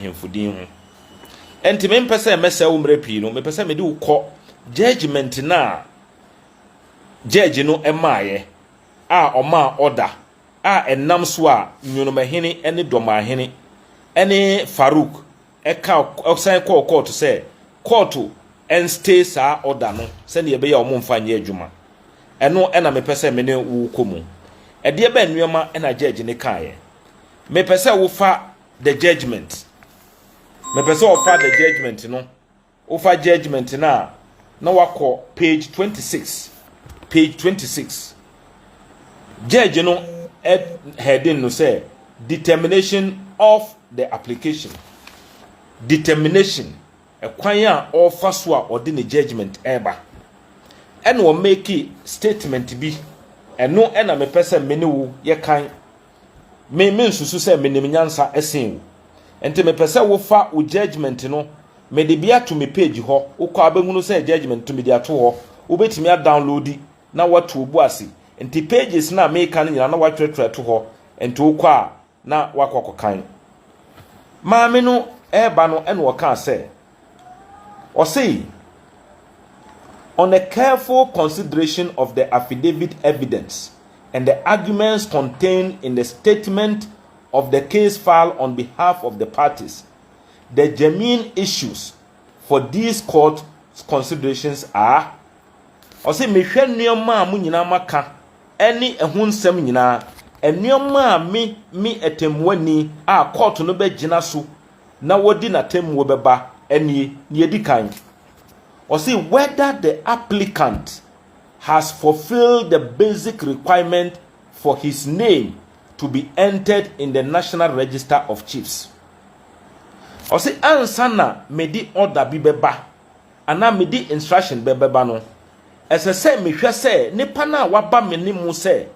ahemfo din ho. Enti mempɛ sɛ mɛsɛe wo mmerɛ pii no, mepɛ sɛ mede wo kɔ judgement no a judge no maaeɛ a ɔmaa order a ɛnam so a Nyonomahene ne Dɔmahene ne Farouk ka san kɔɔ kɔɔto sɛ kɔɔto nstay saa order no sɛdeɛ ɛbɛyɛ a wɔmfa nyɛ adwuma. Ɛno na mepɛ sɛ me ne wo kɔ mu. Ɛdeɛ bɛn nneɛma na judge no kaeɛ? Mepɛ sɛ wofa The judgement. Mepɛ sɛ ɔfa the judgement no. Wofa judgement no a, na wakɔ page 26. Page 26. Judge no heading no sɛ determination of the application. Determination, ɛkwan a ɔfa so a ɔde ne judgement ɛreba. Ɛna ɔmɛki statement bi. Ɛno ɛna mepɛ sɛ me ne wo yɛkan Me me nsusu sɛ me nim nyansa sen wo nti me pɛ sɛ wo fa wo judgement no me de bi ato me page hɔ wo kɔ abɛhunu sɛ judgement to me de ato hɔ wo bɛtumi a downloadi na watu obu ase nti pages na me ka no nyina na watwerɛtwerɛ to hɔ nti wo kɔ a na wakɔ akɔ kan maame no ɛɛba no ɛna ɔkaa sɛ. Ɔse, On a careful consideration of the affidavit evidence and the arguments contained in the statement of the case file on behalf of the parties, the germane issues for this court's considerations are, Ɔse, mehwɛ nnoɔma a mo nyinaa moaka ne ɛho nsɛm nyinaa, nnoɔma a me, me atɛmmuani a kɔɔto no bɛgyina so na wɔadi n'atemmuo bɛba nie, deɛ ɛdi kan, wɔse whether the applicant has fulfilled the basic requirement for his name to be entered in the National Register of Chiefs. Wɔse ansa na mede order bi bɛba anaa mede instruction bɛbɛba no, ɛsɛ sɛ mehwɛ sɛ nipa no a waba me ne mu sɛ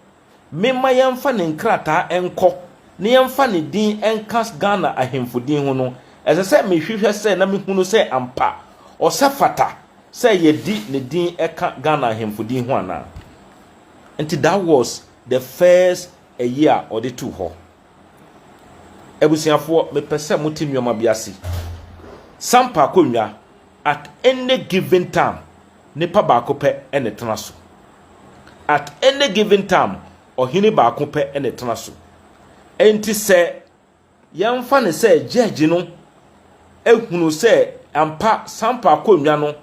Memma yɛmfa ne nkrataa nkɔ na yɛmfa ne din nka Ghana ahemfo din ho no, ɛsɛ sɛ mehwehwɛ sɛ na mehunu sɛ ampa ɔsɛ fata sɛ yɛde ne din ka Ghana ahemfo din ho anaa. Nti that was the first ayi a ɔde too hɔ. Abusuafoɔ, mepɛ sɛ mote nneɛma bi ase. Sampa akonnwa, at any given time, nipa baako pɛ na ɛtena so. At any given time, ɔhene baako pɛ na ɛtena so. Enti sɛ yɛmfa no sɛ judge no ehunu sɛ ampa Sampa akonnwa no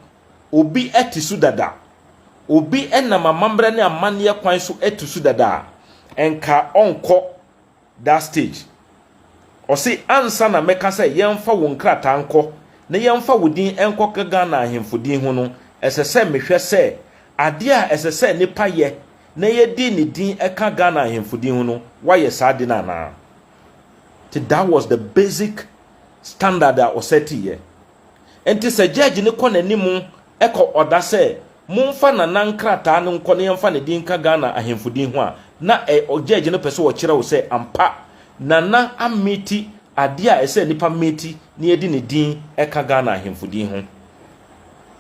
obi te so dada, obi nam amammerɛ ne amanneɛ kwan so te so dada a, nka ɔnkɔ that stage. Ɔse ansa na mɛka sɛ yɛmfa wo nkrataa nkɔ na yɛmfa wo din nkɔka Ghana ahemfo din ho no, ɛsɛ sɛ mehwɛ sɛ adeɛ a ɛsɛ sɛ nipa yɛ na yɛde ne din ka Ghana ahemfo din ho no, wayɛ saa ade no anaa. Nti that was the basic standard a ɔsɛteeɛ. Nti sɛ judge no kɔ n'anim kɔ ɔda sɛ momfa Nana nkrataa no nkɔ na yɛmfa ne din nka Ghana ahemfo din ho a, na ɛ, gyɛɛgye no pɛ sɛ ɔkyerɛ wo sɛ ampa Nana ameti adeɛ a ɛsɛ nnipa meti na yɛde ne din ka Ghana ahemfo din ho.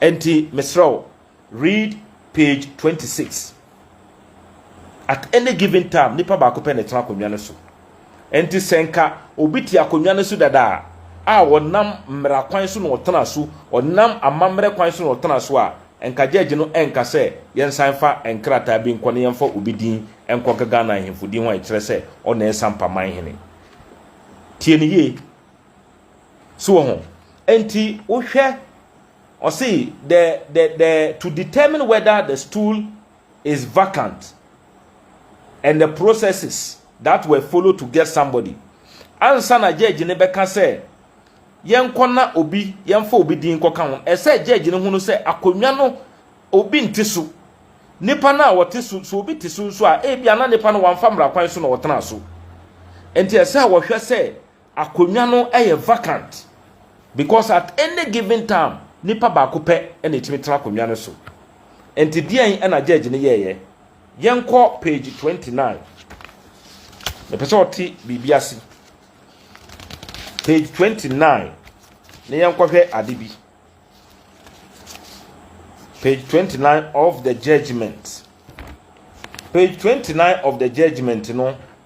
Ɛnti, mesrɛ wo, read page twenty six. At any given time, nipa baako pɛ na ɛtena akonnwa no so. Enti sɛ nka obi te akonnwa no so dada a, a ɔnam mmara kwan so na ɔtena so, ɔnam amammerɛ kwan so na ɔtena so a, nka gyɛɛgye no renka sɛ yɛnsan mfa nkrataa bi nkɔ na yɛmfa obi din nkɔka Ghana ahemfo din ho a ɛkyerɛ sɛ ɔna ɛsa mpa man hene. Tie no yie. So wɔ ho? Enti wohwɛ Ɔse the the the to determine whether the stool is vacant and the processes that were followed to get somebody ansa na judge no bɛka sɛ yɛnkɔ na obi yɛmfa obi din kɔka ho ɛsɛ judge no hunu sɛ akonnwa no obi nte so nipa no a ɔte so so obi te so nso a ebi ana nipa no wamfa mmara kwan so na ɔtena so nti ɛsɛ a wɔhwɛ sɛ Akonnwa no yɛ vacant because at any given time nipa baako pɛ na etumi tena akonnwa no so. Nti deɛn na judge no yɛɛyɛ? Yɛnkɔ page twenty nine. Mepɛ sɛ ɔte biribi ase. Page twenty nine na yɛnkɔhwɛ ade bi. Page twenty nine of the judgement. Page twenty nine of the judgement no.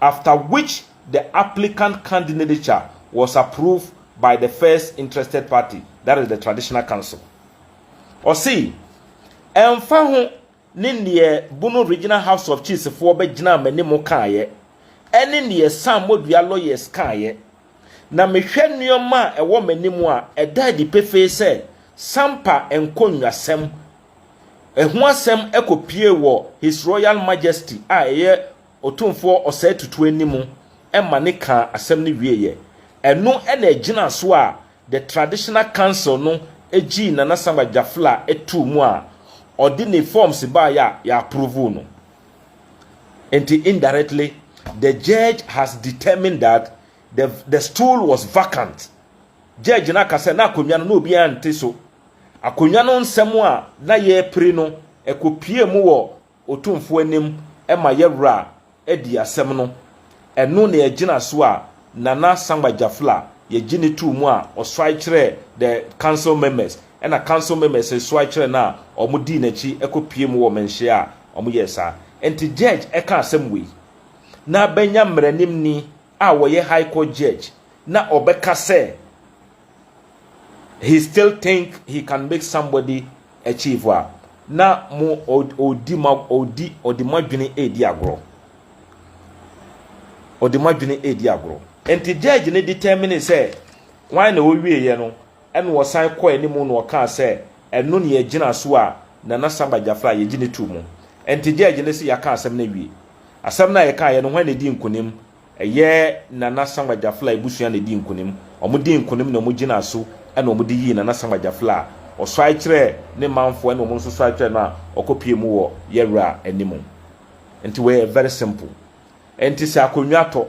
after which the applicant candinature was approved by the first interested party that is the traditional council. Ɔse, ɛmfa ho ne neɛ Bono Regional House of Chiefs foɔ bɛgyinaa m'anim kaeɛ, ɛne neɛ Sam Modua lawyers kaeɛ, na mehwɛ nnoɔma a ɛwɔ m'anim a, ɛda adi pefee sɛ Sampa nkonnwasɛm ho asɛm kɔpue wɔ His Royal Majesty a ɛyɛ Otumfoɔ ɔsɛe tutu anim ma ne kaa asɛm no wieeɛ. Ɛno na ɛgyinaa so a The Traditional Council no gyii Nana Samuel Gyafla too mu a ɔde ne forms baeɛ a yɛ approve no. Enti indirectly the judge has determined that the the stool was vacant. Judge no aka sɛ na akonnwa no na obiara nte so. Akonnwa no nsɛm a na yɛrepere no, ɛkɔpuee mu wɔ. Otumfoɔ anim ma yɛ werɛ a adi asɛm no. Ɛno na yɛgyina so a Nana Sangba Gyafl a yɛgye no too mu a ɔsoae kyerɛɛ the council members ɛna council members resoae kyerɛ no a wɔn dii n'akyi kɔ pue mu wɔ mɛnhyia a wɔn yɛɛ saa nti judge ɛka asɛm wei na bɛnya mmaranimni a wɔyɛ high court judge na ɔbɛka sɛ he still think he can make somebody achieve a na mo ɔdi ma ɔdi ɔde mo adwene edi agorɔ ɔde mo adwene edi agorɔ nti judge ne determine sɛ wɔn na wɔwie yɛ no ɛna wɔsan kɔ anim na wɔkaa sɛ ɛno na yɛgyina so a nana samba jafra yɛgye ne tu mu nti judge ne sɛ yɛaka asɛm no awie asɛm no a yɛka yɛ no wɔn na edi nkunim Ɛyɛ Nana Sankwa Gyafla abusua na edii nkonim. Wɔdii nkonim na wɔgyinaa so na wɔde yii Nana Sankwa Gyafla a ɔsɔre kyerɛɛ ne manfoɔ ɛna wɔn nso sɔre kyerɛɛ no a ɔkɔpuee mu wɔ yɛ wura anim. Nti wei yɛ very simple. Nti sɛ akonnwa tɔ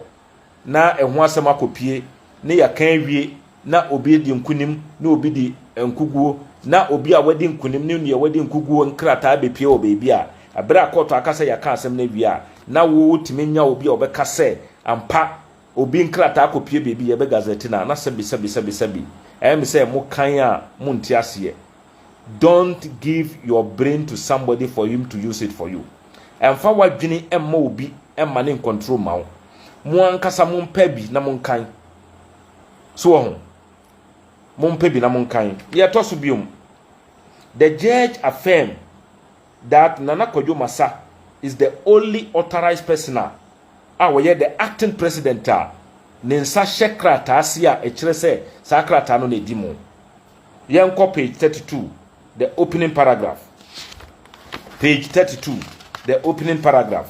na ɛho asɛm akɔpue ne yɛaka awie na obi adi nkonim ne obi di nkoguo, na obi a wadi nkonim ne nea wadi nkoguo nkrataa bɛpue wɔ baabi a, ɛberɛ a kɔɔto aka sɛ yɛaka asɛm no awie a, na wotumi nya obi a ɔbɛka sɛ ampa obi nkrataa kɔpue baabi, yɛbɛ gazette no a, na sɛbi sɛbi sɛbi sɛbi, ɛyɛ me sɛ mo kan a monte aseɛ. Don't give your brain to somebody for him to use it for you. Ɛmfa w'adwene mma obi mma ne nkɔntro mma wo. Mo ankasa mompɛ bi na monkan. So wɔ ho? Mompɛ bi na monkan. Deɛ ɛtɔ so biom, the judge affirm that Nana Kwadwo Masa is the only authorized person a a wɔyɛ the acting president a ne nsa hyɛ krataa ase a ɛkyerɛ sɛ saa krataa no na ɛdi mu. Yɛnkɔ page 32, the opening paragraph. Page 32, the opening paragraph.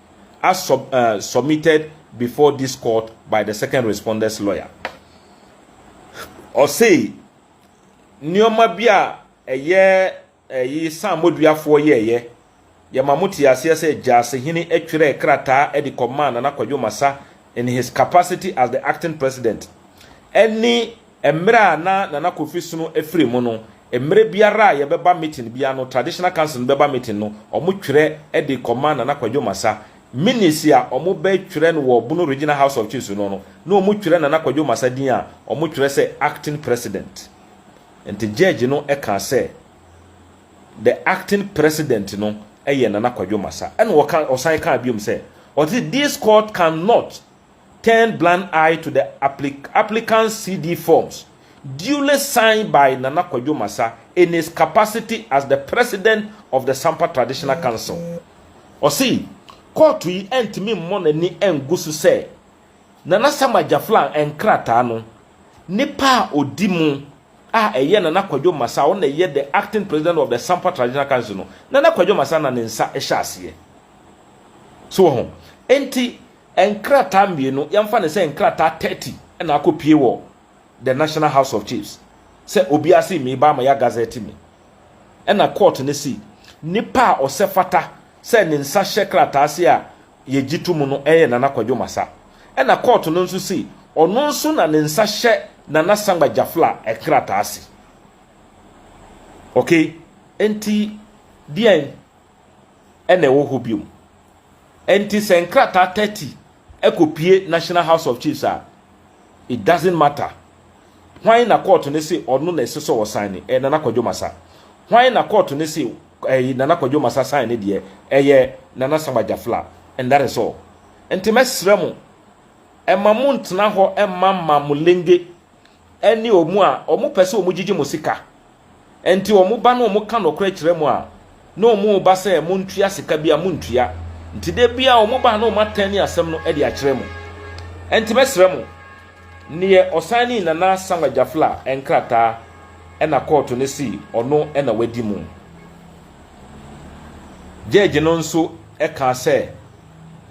as sub, uh, submitted before this court by the second responder's lawyer. Ɔsei, nneɛma bi a ɛyɛ ɛyi sammɔduafoɔ yɛɛyɛ, yɛma mo te aseɛ sɛ Gyasehene atwerɛ krataa de kɔmaa Nana Kwadwo Masa in his capacity as the acting president ɛne Mmerɛ a na Nana Kofi Sono afiri mu no, mmerɛ biara a yɛbɛba meeting biara no, Traditional Council no bɛba meeting no, wɔtwerɛ de kɔma Nana Kwadwo Masa. Minutes a wɔbɛtwerɛ no wɔ Bono Regional House of Chiefs no no, na wɔtwerɛ Nana Kwadwo Masa din a, wɔtwerɛ sɛ Acting President. Nti Judge no kaa sɛ, The Acting President no yɛ Nana Kwadwo Masa. Ɛna ɔka, ɔsan kaa biom sɛ, ɔse, This court cannot turned blind eye to the applicant's CD forms duly signed by Nana Kwadwo Masa in his capacity as the President of the Sampa Traditional Council. Ɔse, kɔɔto yi antumi mmɔ n'ani angu so sɛ Nana Sam Agyaflang nkrataa no, nipa a odi mu a ɛyɛ Nana Kwadwo Masa a ɔno na ɛyɛ the Acting President of the Sampa Traditional Council no, Nana Kwadwo Masa na ne nsa hyɛ aseɛ. So wɔ ho? Enti, Nkrataa mmienu, yɛmfa no sɛ nkrataa thirty na akɔpue wɔ the National House of Chiefs sɛ obiara se meba ama yɛagazɛte me. Ɛna court no se nipa a ɔsɛ fata sɛ ne nsa hyɛ krataa ase a yɛgye to mu no yɛ Nana Kwadwo Masa. Ɛna court no nso se ɔno nso na ne nsa hyɛ Nana Sangba Jafla nkrataa ase. Okay, enti deɛn? na ɛwɔ hɔ bio. Enti sɛ nkrataa thirty kɔpue National House of Chiefs a, it doesn't matter. Hwan na kɔɔto no se ɔno na ɛsɛ sɛ ɔsan ne? Ɛyɛ Nana Kwadwo Masa. Hwan na kɔɔto no se ɛyi Nana Kwadwo Masa san ne deɛ? Ɛyɛ Nana Samba Jafla. And that is all. Nti mɛsrɛ mo, ɛma mo ntena hɔ mma mma mo lenge. ɛne wɔn a wɔpɛ sɛ wɔgyigye mo sika. Ɛnti wɔba na wɔka nokorɛ kyerɛ mo a, na wɔba sɛ montua sika bi a montua. Nti da bi a wɔba na wɔatɛne asɛm no de akyerɛ mo. Ɛnti mɛsrɛ mo, neɛ ɔsanee Nana Samuel Gyafla nkrataa ɛna kɔɔto no se ɔno ɛna wadi mo. Gyɛɛgye no nso ɛkaa sɛ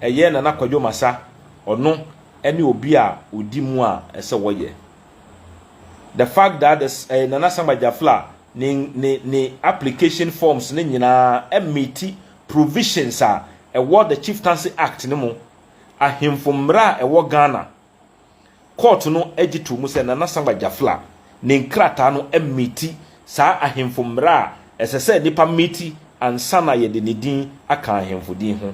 ɛyɛ Nana Kwadwo Masa ɔno ɛne obi a odi mu a ɛsɛ wɔyɛ the fact that the ɛyɛ nana sam agyafla ne ne ne application forms ne nyinaa ɛmeti provisions a ɛwɔ the chieftaincy act ne mu ahemfo mmara a ɛwɔ ghana court no agye to mu sɛ nana sam agyafla ne nkrataa no ɛmeti saa ahemfo mmara a ɛsɛ sɛ nipa meti ansa na yɛde ne din aka ahemfo din ho.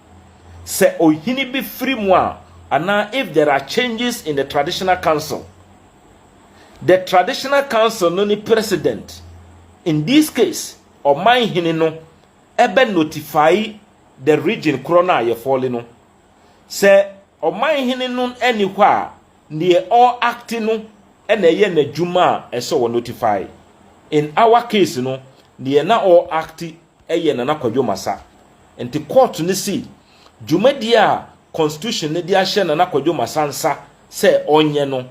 sɛ ɔhene bi firi mu a anaa if there are changes in the traditional council. The traditional council no ne president. In this case, ɔman hene no ɛbɛ notify the region korɔ no a yɛfɔle no. Sɛ ɔman hene no ɛni hɔ a, neɛ ɔ acti no ɛna ɛyɛ n'adwuma a ɛsɛ ɔ notify. In our case no, neɛ na ɔ acti yɛ Nana Kwadwo Masa. Nti kɔɔto no sii dwumadie a Constitution no de ahyɛ Nana Kwadwo Masa nsa sɛ ɔnyɛ no,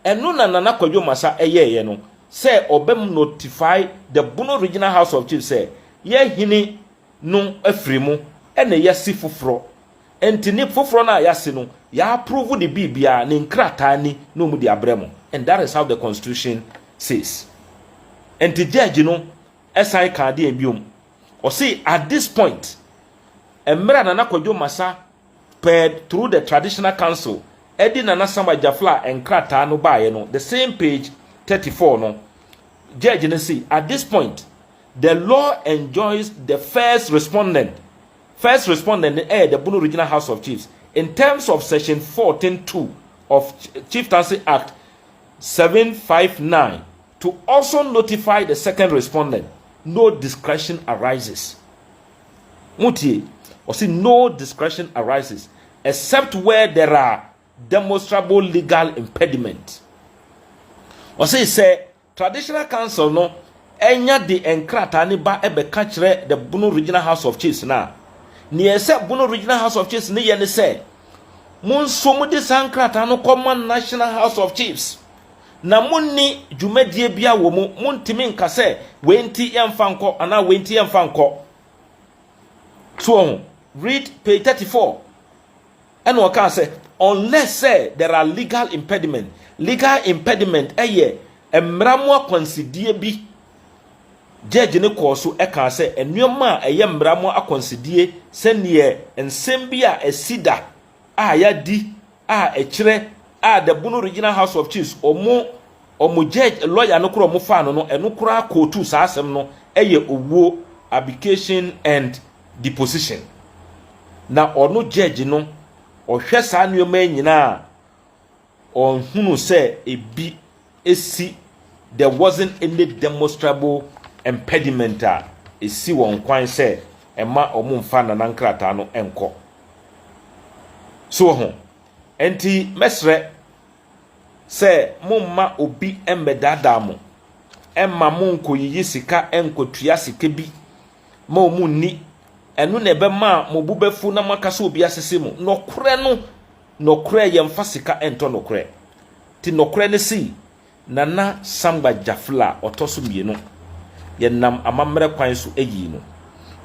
ɛno na Nana Kwadwo Masa yɛeɛ no sɛ ɔbɛ notify the Bono Regional House of Chiefs sɛ yɛ hene no afiri mu na yɛasi foforɔ. Nti ne foforɔ no a yɛasi no, yɛ approve de biribiara, ne nkrataa ni na wɔde abrɛ mo and that is how the Constitution says. Nti judge no. Ɛsan kaa deɛn biom? Ɔse at this point, mmerɛ a Nana Kwadwo Masa pɛɛ through the Traditional Council de Nana Sam Agyafla nkrataa no baeɛ no, the same page thirty four no, Judge no se at this point, the law enjoins the first respondent, first respondent no yɛ the Bono Regional House of Chiefs, in terms of section fourteen two of Chieftaincy Act seven five nine, To also notify the second respondent no discretion arises, motie, ɔse no discretion arises except where there are demonstrable legal impediment. Ɔse sɛ Traditional Council no anya de nkrataa no ba bɛka kyerɛ the Bono Regional House of Chiefs no a, nea ɛsɛ Bono Regional House of Chiefs no yɛ ne sɛ, Monsuo mode saa nkrataa no kɔma National House of Chiefs na monni dwumadie biara wɔ mu, montumi nka sɛ wei nti yɛmfa nkɔ anaa wei nti yɛmfa nkɔ. So wɔ ho? Read page thirty four. Ɛna ɔkaa sɛ unless sɛ there are legal impediment. Legal impediment yɛ mmara mu akwansideɛ bi. Judge no kɔɔ so kaa sɛ nneɛma a ɛyɛ mmara mu akwansideɛ sɛdeɛ nsɛm bi a ɛsi da a yɛadi a ɛkyerɛ a the Bono Regional House of Chiefs wɔn wɔn judge lawyer no koraa wɔn faa no no ɛno koraa kootu saa asɛm no ɛyɛ owuo abdication and deposition na ɔno judge no ɔhwɛ saa nneɛma yi nyinaa a Ɔnhunu sɛ ebi si there wasn't any demonstrable impediment a esi wɔn kwan sɛ ɛma wɔmfa Nana nkrataa no nkɔ. So woahu? Enti mɛsrɛ sɛ momma obi mmɛdaadaa mo mma monkɔyiyi sika nkɔtua sika bi ma wɔn nni, ɛno na ɛbɛma mo bo bɛfu na moaka sɛ obi asese mo. Nokorɛ no, Nɔkorɛ yɛnfa sika ntɔ nɔkorɛ ti nɔkorɛ ne sei Nana Samba Jafla ɔtɔ so mmienu yɛnam amammerɛ kwan so yii no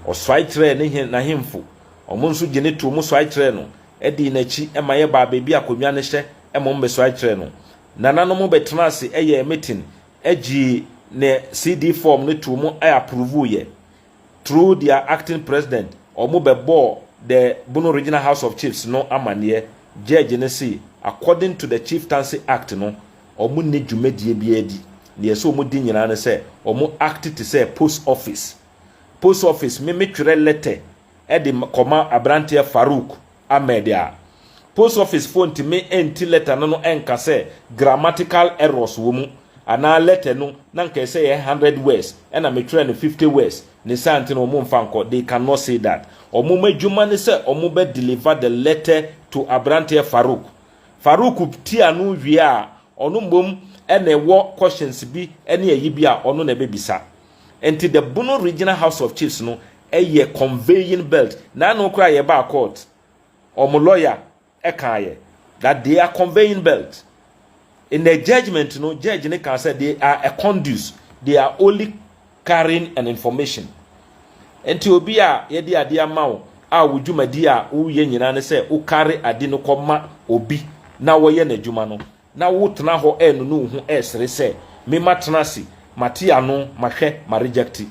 ɔsuae kyerɛɛ ne he n'ahemfo ɔmo nso gye ne too mo suae kyerɛɛ no dii n'akyi ma yɛbaa baabi a konwa no hyɛ mmom mesuae kyerɛɛ no nananom bɛtenaa ase yɛɛ meeting gyee ne CD form no too mo aprovoo yɛ Through their acting president, wɔn bɛbɔɔ the Bono Regional House of Chiefs no amaneɛ, Judge no se according to the Chieftaincy Act no, wɔn nni dwumadie biara di, deɛ ɛsɛ wɔn di nyinaa ne sɛ wɔn act te sɛ post office. Post office, me me twerɛ letter de kɔma abranteɛ Farouk Ahmed a, post office foɔ ntumi nti letter no no nka sɛ grammatical errors wɔ mu anaa letter no na nka ɛsɛ yɛ hundred words ɛna me twerɛ no fifty words ne saa nti no wɔn mfa nkɔ they can not say that wɔn adwuma ne sɛ wɔn bɛ deliver the letter to abranteɛ Farouk Farouk ti ano wie a ɔno mmom ɛna ɛwɔ questions bi ɛne ayi bi a ɔno na ɛbɛ bisa Enti the Bono Regional House of Chiefs no yɛ conveying belt. Naano koraa yɛbaa court, wɔn lawyer kaeɛ that they are conveying belt. In the judgement no, judge no kaa sɛ they are a conduit, they are only carrying an information. Enti obi a yɛde adeɛ ama wo a wo dwumadi a woyɛ nyinaa ne sɛ wo carry ade no kɔma obi na wɔyɛ n'adwuma no, Na wotena hɔ ɛɛnone wo ho ɛɛsere sɛ, Me matena ase, mate ano, mahwɛ, ma reject.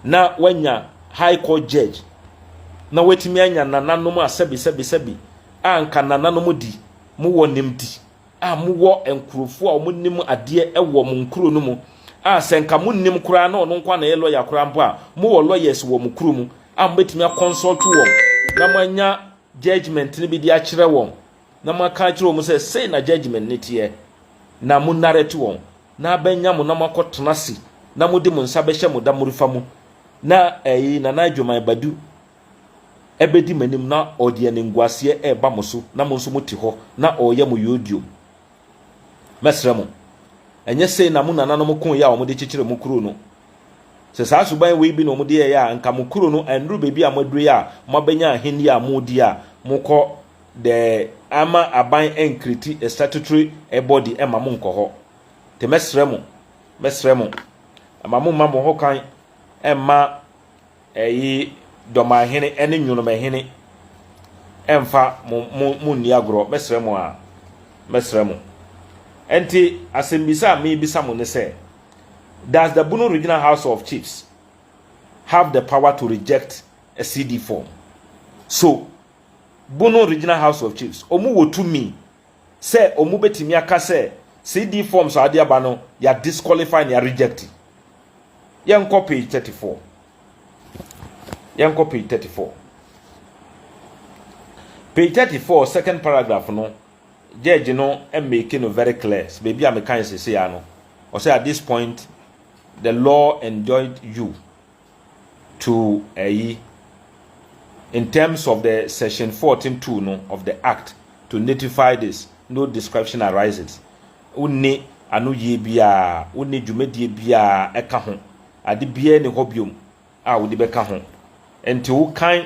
Na wanya High Court Judge, na watumi anya nananom a sɛbi sɛbi sɛbi a anka nananom de, mo wɔ nimdi a mo wɔ nkurofo a wɔn nim adeɛ ɛwɔ mo nkuro no mu a sɛ nka mo nnim koraa na ɔno nkoa na ɛyɛ lawyer koraa mpo a mo wɔ lawyers wɔ mo kuro mu a mo bɛtumi a consult wɔn na mo anya judgement no bi de akyerɛ wɔn. Na moaka akyerɛ wɔn sɛ, 'Sei na judgement no teɛ, na monarɛte wɔn, na abɛnya mo na moakɔtena ase, na mode mo nsa bɛhyɛ mo damorefa mu, na ɛɛi Nana Adwoman Badu ɛbɛdi m'anim na ɔde animguaseɛ ɛɛba mo so na mo nso mote hɔ na ɔɔyɛ mo yodiom. Mɛsrɛ mo, ɛnyɛ sei na mo nananom koeɛ a wɔde kyekyeree mo kuro no? Sɛ saa suban wei bi na wɔde yɛeɛ a, anka mo kuro no annuru baabi a moaduru yi a moabɛnya ahennie a moredi a mokɔ dɛ amma aban ennkriti statutory body mma mo nnkɔ hɔ. Ntsi mɛserɛ mo, mɛserɛ mo, mma mo mma mo ho kwan mma ɛyi Dɔmahene ne Nwonomahene mmfa mo mo mo nni agorɔ. Mɛserɛ mo aa, mɛserɛ mo. Ntsi asɛmbisa a merebisa mo ne sɛ, Does the Bono Regional House of Chiefs have the power to reject a CD form? So Bono Regional House of Chiefs, wɔn wɔ tumi sɛ wɔn bɛtumi aka sɛ CD forms a wɔde aba no yɛ a disqualify ne yɛ a reject. Yɛnkɔ page thirty four. Yɛnkɔ page thirty four. Page thirty four second paragraph no judge no make no very clear sɛ baabi a mekan sese ya no ɔsɛ at this point the law enjoined you to ayi in terms of the section fourteen two no of the act to notify this no description arises wonni anoyie biara wonni dwumadie biara ɛka ho ade biara ni hɔ biom a wode bɛka ho nti wokan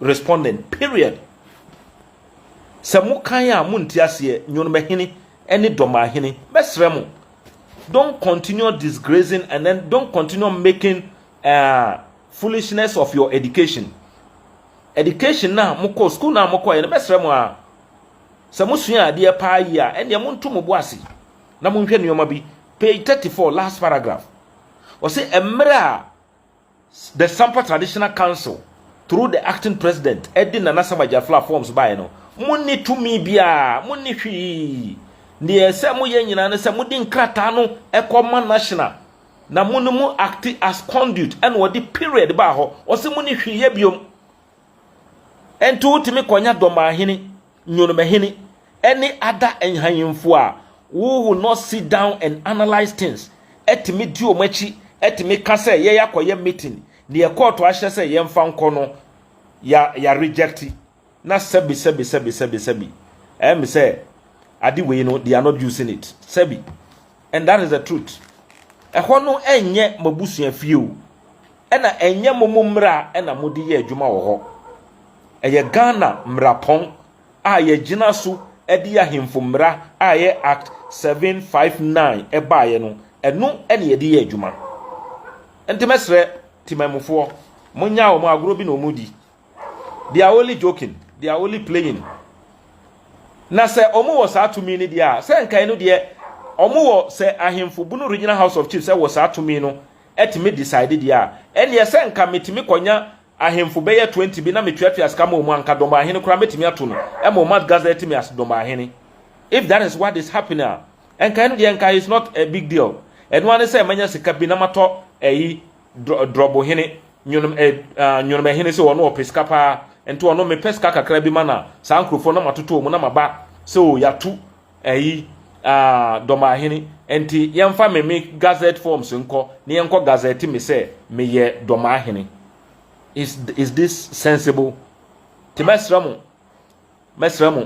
respondent period sɛ mo kan a mo nte aseɛ nyonomahene ɛne dɔmahene mɛsrɛ mo don't continue disgracing and then don't continue making uh, foolishness of your education education na mokɔ school na mokɔ yɛ no mɛsrɛ mo a sɛ mosua adeɛ paa yi a ɛnneɛ monto mo bo ase na monhwɛ nneɛma bi page 34 last paragraph ɔse mmerɛ a The Sampa Traditional Council through the acting president ɛde Nana Asam Agyafla forms baeɛ no, mo nni tumi biara, mo nni hwee. Deɛ ɛsɛ moyɛ nyinaa ne sɛ mode nkrataa no kɔ ma National na mo ne mo acte as conduit ɛna ɔde period baa hɔ. Ɔse monni hwee yɛ biom. Ɛnti wotumi kɔnya Dɔmahene Nyonomahene ne ada nhanyemfo a wo will not sit down and analyse things tumi di wɔn akyi tumi ka sɛ yɛyɛ akɔyɛ meeting deɛ kɔɔto ahyɛ sɛ yɛmfa nkɔ no ya ya reject na sɛbi sɛbi sɛbi sɛbi sɛbi ɛyɛ me sɛ ade wei no they are not using it sɛbi. And that is the truth. Ɛhɔ no ɛnyɛ mo abusua fie o. Ɛna ɛnyɛ mo mo mmara ɛna mo de yɛ adwuma wɔ hɔ. Ɛyɛ Ghana mmarapɔn a yɛgyina so ɛde ahemfo mmara a ɛyɛ Act 759 ɛbaeɛ no, ɛno ɛna yɛde yɛ adwuma. Nti mɛsrɛ Temanmufoɔ, monnyaa wɔn, agorɔ bi na wɔredi. they are only joking they are only playing na sɛ ɔmo wɔ saa tumi no deɛ a sɛ nkae no deɛ ɔmo wɔ sɛ ahemfo bunu regional house of chiefs wɔ saa tumi no ɛtumi decide deɛ a ɛneɛ sɛ nka metumi kɔnya ahemfo bɛyɛ 20 bi na metuatua sika ma ɔmo anka dɔmbɔ ahene koraa mɛtumi ato no ɛma ɔmo atgazɛ tumi as dɔmbɔ ahene if that is what is happening a nkae no deɛ nkae is not a big deal ɛno ara ne sɛ manya sika bi na matɔ ɛyi drɔbohene nwonom eh, uh, nwonomahene sɛ ɔno ɔpɛ sika paa nti ɔno mepɛ sika kakra bi ma na saa nkurɔfoɔ na matoto mu na maba sɛ o yɛato ayi uh, dɔmahene nti yɛmfa me me gazette forms nkɔ na yɛnkɔ gazette me sɛ meyɛ dɔmahene is, is this sensible nti mɛsrɛ mo Mɛsrɛ mo,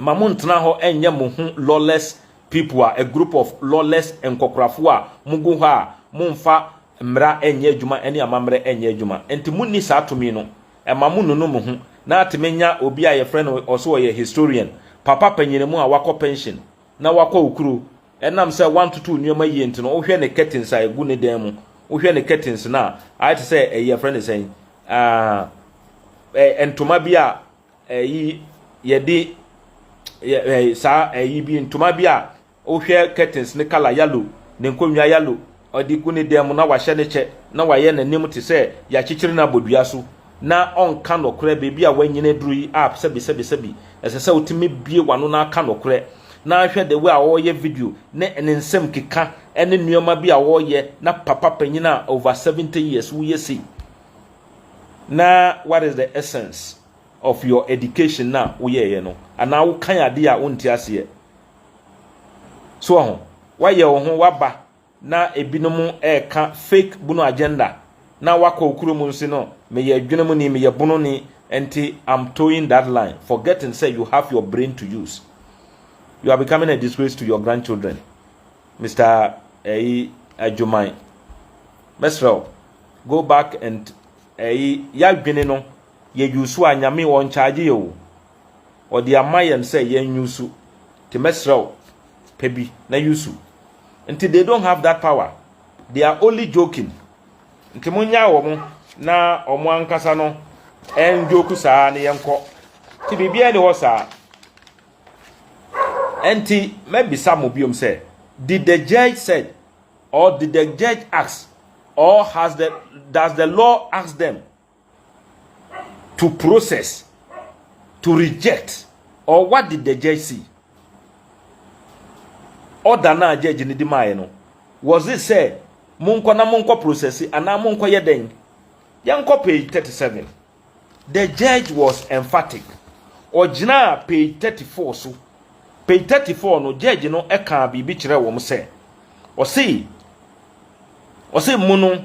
mma monntena hɔ nnyɛ mo ho lawless people a, a group of lawless nkɔkorafo a mogu hɔ a mommfa mmara nnyɛ adwuma ne amammerɛ nnyɛ adwuma nti monni saa tumi no. Mma monnunu mo ho na atumi nya obi a yɛfrɛ no, ɔse ɔyɛ historian, papa panyini mu a wakɔ pension na wakɔ okuro, Ɛnam sɛ wantoto nneɛma yie nti no, wohwɛ ne curtains a ɛgu ne dan mu, wohwɛ ne curtains no a, ayɛ te sɛ ɛyi ɛfrɛ ne sɛn, ɛɛ ntoma bi a ɛyi yɛde yɛ saa ɛyi bi ntoma bi a wohwɛ curtains ne colour yellow, ne nkonnwa yellow, Ɔde gu ne dan mu na wahyɛ ne kyɛ na wayɛ n'anim te sɛ deɛ akyekyere no abɔ dua so na ɔnka nokorɛ, baabi a wanyini aduru yi app sɛbisɛbisɛbi, ɛsɛ sɛ wotumi bue w'ano na aka nokorɛ. Na hwɛ the way a ɔreyɛ video ne ne nsɛm keka ne nnoɔma bi a ɔreyɛ na papa panyin a over 70 years woyɛ sei na what is the essence of your education na woyɛeɛ no anaa wokan adeɛ a wonte aseɛ. So wɔ ho? Woayɛ wo ho w'aba na ebinom ɛɛka fake bunu agenda na wakɔ okuro mu nse no meyɛ adwene mu ni meyɛ bunu ni nti I'm towing that line forgetting sɛ you have your brain to use you are becoming a disgrace to your grandchildren Mr. Ɛyi adwuman mɛsrɛ wo go back and ɛyi yɛadwene no yɛ yusu a nyame wɔn charge yɛ o wɔde ama yɛn sɛ yɛn use te mɛsrɛ wo pɛ bi na use nti they don't have that power they are only joking nti mo nyaa wɔn na wɔn ankasa no ɛn joke saa ne yɛn kɔ ti biribiara ni hɔ saa nti mɛbisa mo biom sɛ did the judge said or did the judge ask or has the does the law ask them to process, to reject, or what did the judge see? Order na judge ni di maaye no, was it sɛ monkɔ na monkɔ process anaa monkɔ yɛ dɛn? Yɛnkɔ page 37. The judge was emphatic. Ɔgyinaa page 34 so. Page 34 no, judge no ɛkaa biribi kyerɛ wɔn sɛ, ɔse, ɔse mo no,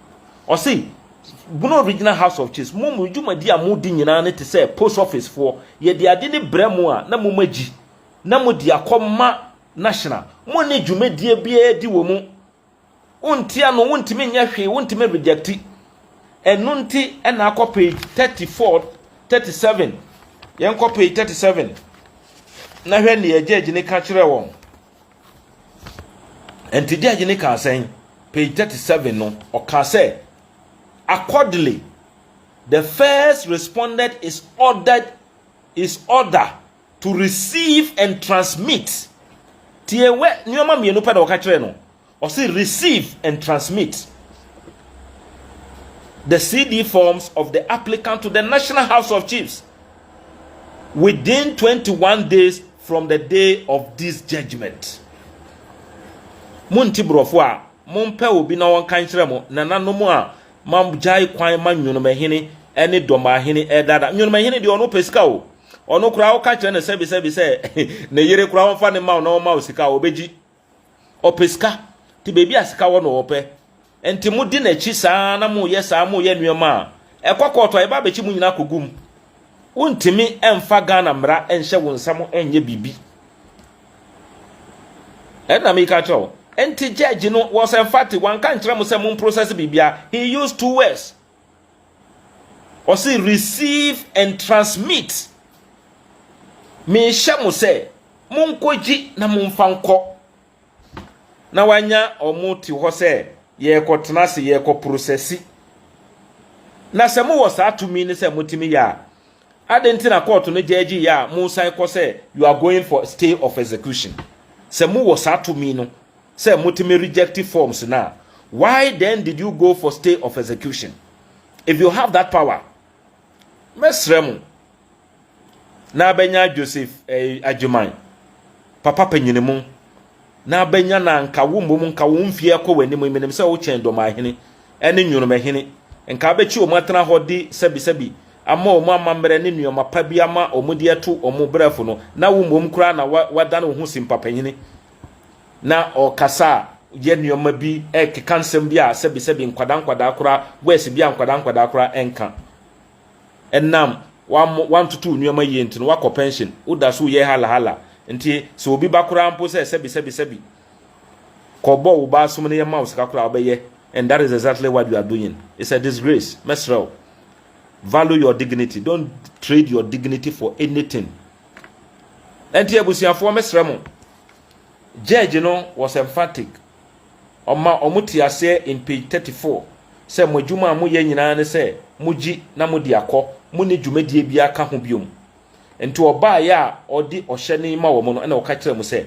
Ɔse Bono Original House of Chiefs, mo mo dwumadi a modi nyinaa no te sɛ post office foɔ. Yɛde ade no brɛ mo a na moma gyi na mode akɔ ma National. Mo nne dwumadie biara di wɔ mu. Wonte ano, wontumi nyɛ hwee, wontumi rejecti. Ɛno nti na akɔ page 34, 37. Yɛnkɔ page 37 na hwɛ nea judge no ka kyerɛɛ wɔn. Enti gyɛɛgye no kaa sɛn? Page thirty seven no, ɔkaa sɛ, Accordingly, the first respondent is ordered is order to receive and transmit. Tie wɛ, nneɛma mmienu pɛ na ɔka kyerɛɛ no. Ɔse receive and transmit the CD forms of the applicant to the National House of Chiefs within 21 days from the day of this judgment. Monti borɔfo a mompɛ obi na wɔnka nkyerɛ mo nananom a magyae kwan ma nnwonomahene ne dɔmahene ɛdada. Nnwonomahene deɛ ɔno pɛ sika o. Ɔno koraa woka kyerɛ no sɛbisɛbi sɛ ne yere koraa ɔmfa ne ma wo na ɔma wo sika a ɔbɛgyi. Ɔpɛ sika, nti baabi a sika wɔ na ɔpɛ. Nti modi n'akyi saa na moyɛ saa, moyɛ nneɛma a ɛkɔ kɔɔto a yɛba abɛkyi mo nyinaa akɔgu mu. Wontumi mfa Ghana mmara nhyɛ wo nsa mo nyɛ biribi. Ɛna meka kyerɛ wo. Nti judge no was emphatic, wanka nkyerɛ mo sɛ mo mprosɛse biribiara, he used two words, Ɔse receive and transmit. Mehyɛ mo sɛ monkɔgye na momfa nkɔ. Na wanya wɔn te hɔ sɛ yɛrekɔtena ase, yɛrekɔprosɛse. Na sɛ mowɔ saa tumi no sɛ motumi yɛ a, adɛn nti na kɔɔto no gyɛɛgye yɛ a mosan kɔ sɛ you are going for stay of execution? Sɛ mowɔ saa tumi no, sɛ motumi reject forms no a why then did you go for stay of execution if you have that power mɛsrɛ mo na abɛnya joseph eh, agyeman papa panyini mu na abɛnya na nka wo mmom nka wo mfie kɔ w'anim menim sɛ wokyɛn dɔmahene ɛne nwonomahene nka abɛkyi wɔn atena hɔ de sɛbisɛbi ama wɔn amammerɛ ne nneɛma pa bi ama wɔn de ato wɔn brɛfo no na wo mmom koraa na wadane wo ho simpapanyini na ɔkasa a yɛ nneɛma bi ɛkeka nsɛm bi a sɛbisɛbi nkwadaa nkwadaa koraa wɛs bi a nkwadaa nkwadaa koraa ɛnka ɛnam wantoto nneɛma yie nti no wakɔ pension woda so yɛ halahala nti sɛ obi ba koraa mpo sɛ sɛbisɛbisɛbi kɔbɔ wo ba asom no yɛ ma wo sika koraa wobɛyɛ and that is exactly what you are doing it's a disgrace mɛsrɛ wo value your dignity don't trade your dignity for anything Ɛnti abusuafoɔ mɛsrɛ mo, judge no was emphatic, ɔma ɔmo te aseɛ in page 34 sɛ mo adwuma a moyɛ nyinaa ne sɛ mogye na mode akɔ, monni dwumadie biara ka ho biom. Nti ɔbaeɛ a ɔde ɔhyɛ no yi ma wɔn no ɛna ɔka kyerɛɛ mo sɛ,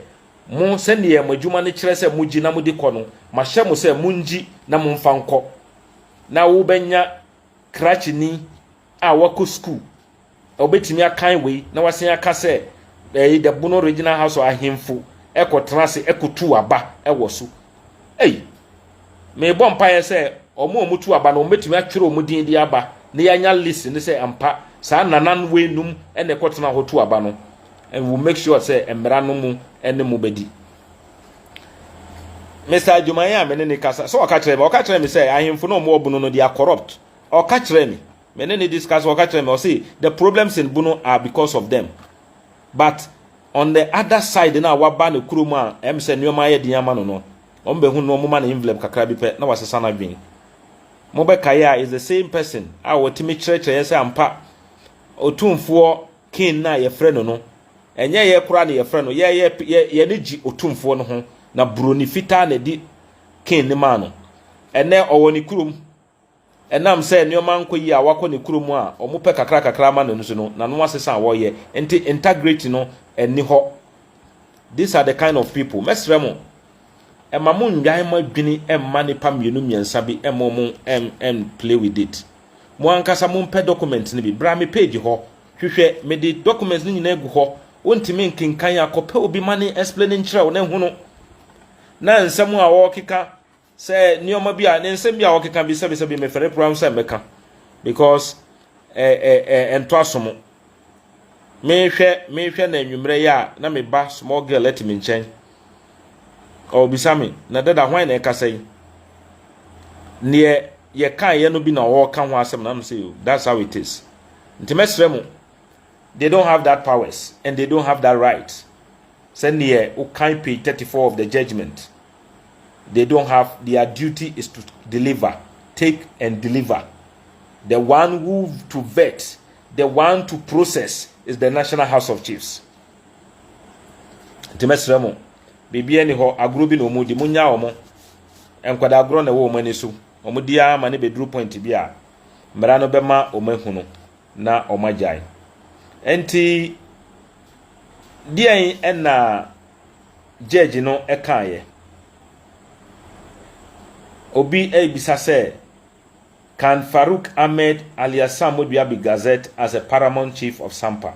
mo sɛdeɛ mo adwuma no kyerɛ sɛ mogye na mode kɔ no, mahyɛ mo sɛ mongye na momfa nkɔ na wobɛnya krakyeni a wakɔ sukuu. Wobɛtumi akan wei na woasan aka sɛ ɛyi the Bono Regional House of Ahemfo kɔtena ase kɔtuu aba wɔ so. Ei! Mebɔ mpaeɛ sɛ wɔn a wɔtu aba no wɔbɛtumi atwerɛ wɔn din de aba na yɛanya list no sɛ ampa saa nanan wei nom na ɛkɔtena hɔ tu aba no and we will make sure sɛ mmara no mu ne mo bɛdi. Mister Adwumayɛ a me ne ne kasa sɛ ɔka kyerɛ me ɔka kyerɛ me sɛ ahemfo no a wɔwɔ Bono no they are corrupt ɔka kyerɛ me Me ne no discuss ɔka kyerɛ me ɔse the problems in Bono are because of them but on the other side no a waba ne kurom a ɛm sɛ nneɛma ayɛ den ama no no wɔn bɛhu no wɔn ma no envelope kakra bi pɛ na wasesa n'adwene mobɛkaeɛ a is the same person a wɔtumi kyerɛkyerɛ yɛ sɛ ampa otumfoɔ king no a yɛfrɛ no no ɛnyɛ yɛ koraa na yɛfrɛ no yɛ yɛ yɛ ne gye otumfoɔ no ho na buroni fitaa na ɛdi king no maa no ɛnɛ ɔwɔ ne kurom Ɛnam sɛ nneɛma nkɔ yie a wakɔ ne kurom a wɔpɛ kakrakakra ama no no so no, n'ano asesa a wɔyɛ nti integrity no nni hɔ. These are the kind of people. Mɛsrɛ mo, ɛma mo nnwan mo adwene mma nnipa mmienu mmiɛnsa bi mma wɔn ɛn play with it. Mo ankasa mo mpɛ document no bi. Bra me page hɔ, hwehwɛ, me de documents no nyinaa agu hɔ. Wo ntumi nkenkan a, kɔ pɛ obi ma ne explain nkyerɛ wo na ɛhono. Na nsɛm a wɔkeka. Sɛ nneɛma bi a ne nsɛm bi a wɔkeka bi sɛbisɛbi mefɛre koraa ho sɛ mɛka because ɛ ɛ ɛ ɛntɔ aso mo. Mehwɛ mehwɛ na anwummerɛ yɛ a na me ba small girl ɛte me nkyɛn. Ɔbisa me na dada hwan na ɛkasa yi? Neɛ yɛkaeɛ no bi na ɔreka ho asɛm na no sɛ that's how it is. Nti mɛsrɛ mo they don't have that powers and they don't have that right sɛ neɛ wokan page 34 of the judgment they don't have their duty is to deliver take and deliver the one who to vet the one to process is the national house of chiefs nti mɛsrɛ mo biribi ani hɔ agorɔ bi na ɔmu di mo nya ɔmo nkwadaa agorɔ na ɛwɔ ɔmo ani so ɔmo di ara ma ne bɛduru point bi a mmara no bɛma ɔmo ahunu na wɔagyae. Enti, deɛn na gyɛɛgye no kaeɛ? Obi rebisa sɛ, Can Farouk Ahmed alias Sam Modua be gazetted as a paramount chief of Sampa?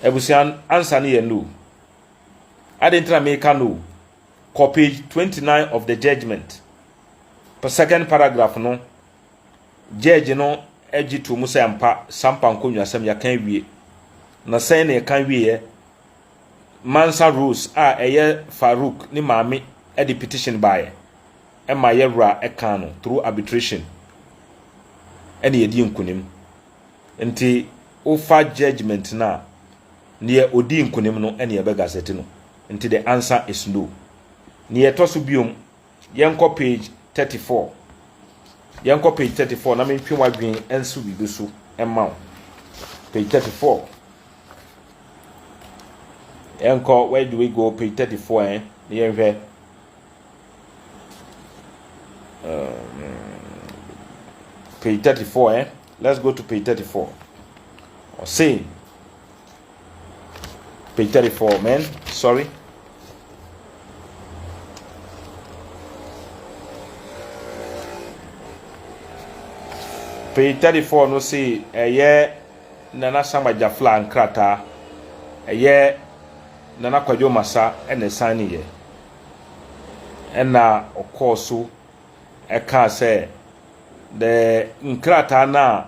Abusua ansa no yɛ no. Ade nti na meka no, kɔ page 29 of the judgment, second paragraph no, Gyɛɛgye no gye too mu sɛ ampa, Sampa nkonnwasɛm yɛaka awie. Na sɛn na yɛka wieɛ? Mansa Rose a ɛyɛ Farouk ne maame de petition baeɛ ma yɛwura kan no through arbitration ɛna yɛdii nkunim. Nti wofa judgement no a, deɛ ɔdii nkunim no ɛna yɛbɛ gazette no. Nti the answer is no. Deɛ ɛtɔ so biom Yɛnkɔ page thirty four. Yɛnkɔ page thirty four na mentwe w'adwene nso biribi so mma wo. Page thirty four. Yɛnkɔ where do we go page thirty four eh na yɛnhwɛ. Um, page thirty four eh let's go to page thirty four. Ɔse Page 34, man. Sorry. Page 34 no say ɛyɛ Nana Sama Jafla nkrataa. Ɛyɛ Nana Kwadwo Masa ɛna ɛsan ne yɛ. Ɛna ɔkɔɔ so ɛkaa sɛ the nkrataa no a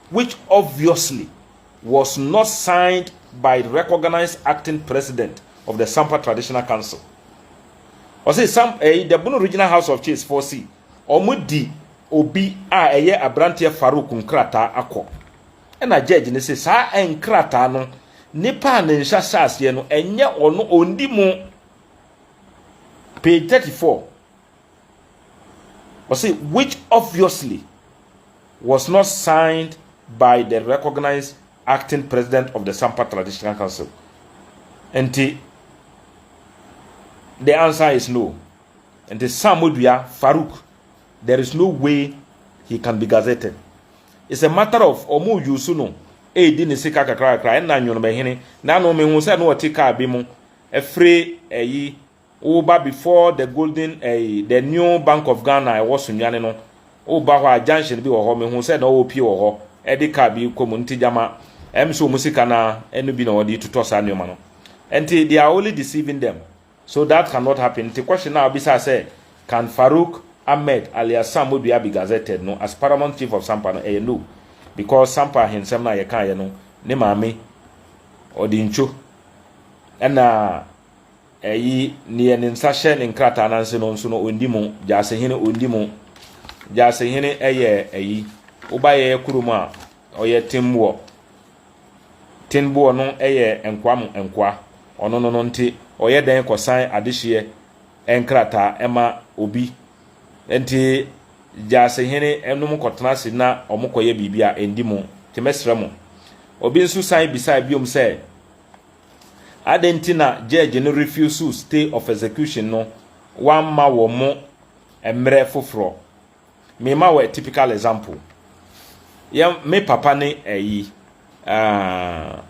which obviously was not signed by the recognised acting president of the Sampa Traditional Council. Ɔse Sam ɛyi eh, the Bono Regional House of Chiefs for si wɔn di obi a ɛyɛ aberanteɛ Farouk nkrataa akɔ. Ɛna judge ne se saa nkrataa no nipa a ne nsa hyɛ aseɛ no ɛnyɛ ɔno ɔndi mu. Page 34. Ɔse which obviously was not signed by the recognised acting president of the Sampa Traditional Council. Nti the answer is no. Nti Sam Modua Farouk, there is no way he can be gazetted. It's a matter of ɔmo use no ɛredi ne sika kakra kakra ɛna nwonomahene na no mehu sɛ na ɔte kaa bi mu ɛfiri ɛyi Woba before the golden ɛyi the new bank of Ghana ɛwɔ Sunyani no woba hɔ a junction bi wɔ hɔ mehu sɛ na ɔrepie wɔ hɔ ɛde car bi rekɔ mu nti gyama ɛm sɛ ɔmo sika naa ɛno bi na ɔde retotɔ saa nnoɔma no nti they are only deceiving them so that can not happen nti question naa ɔbisaa sɛ can Farouk Ahmed alias Sam Modua be gazetted no as paramount chief of Sampa no ɛyɛ no because Sampa ahensɛm no a yɛkaeɛ no ne maame ɔde ntwo ɛna Eyi neɛ ne nsa hyɛ ne nkrataa no ase no nso no ɔndi mu, Gyasehene ɔndi mu. Gyasehene yɛ ayi, woba yɛyɛ kurom a, ɔyɛ Tenboɔ. Tenboɔ no yɛ nkoa mu nkoa, ɔno no no nti ɔyɛ dɛn kɔsan adehyeɛ nkrataa ma obi. Nti Gyasehene nom kɔtena ase na wɔkɔyɛ biribi a ɛndi mu. Nti mɛsrɛ mo. Obi nso san bisae biom sɛ. Adɛn nti na gyɛɛgye no refiusiw stay of execution no wamma wɔ mo mmerɛ foforɔ? Mema wo a typical example. Yɛ me papa ne ayi aah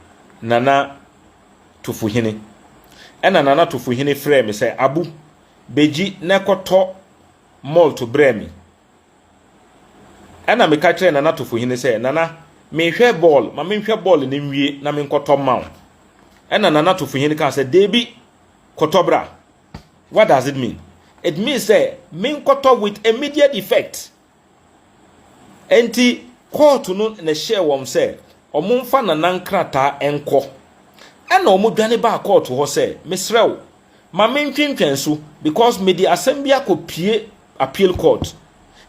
Nana Tufuhene. Ɛna Nana Tufuhene frɛɛ me sɛ Abu, bɛgyi na kɔtɔ malt brɛ me. Ɛnna meka kyerɛɛ Nana Atofohene sɛ, Nana, mehwɛ bɔɔl, ma menhwɛ bɔɔl no nwie na menkɔtɔ mma wo. Ɛnna Nana Atofohene kaa sɛ, Dabi, kɔtɔ bra. What does it mean? It means sɛ menkɔtɔ with immediate effect. Enti kɔɔto no na ɛhyɛɛ wɔn sɛ wɔmfa Nana nkrataa nkɔ. Ɛnna wɔdwane baa kɔɔto hɔ sɛ, Mesrɛ wo, Ma me ntwentwɛn so because me de asɛm bi akɔ pie appeal court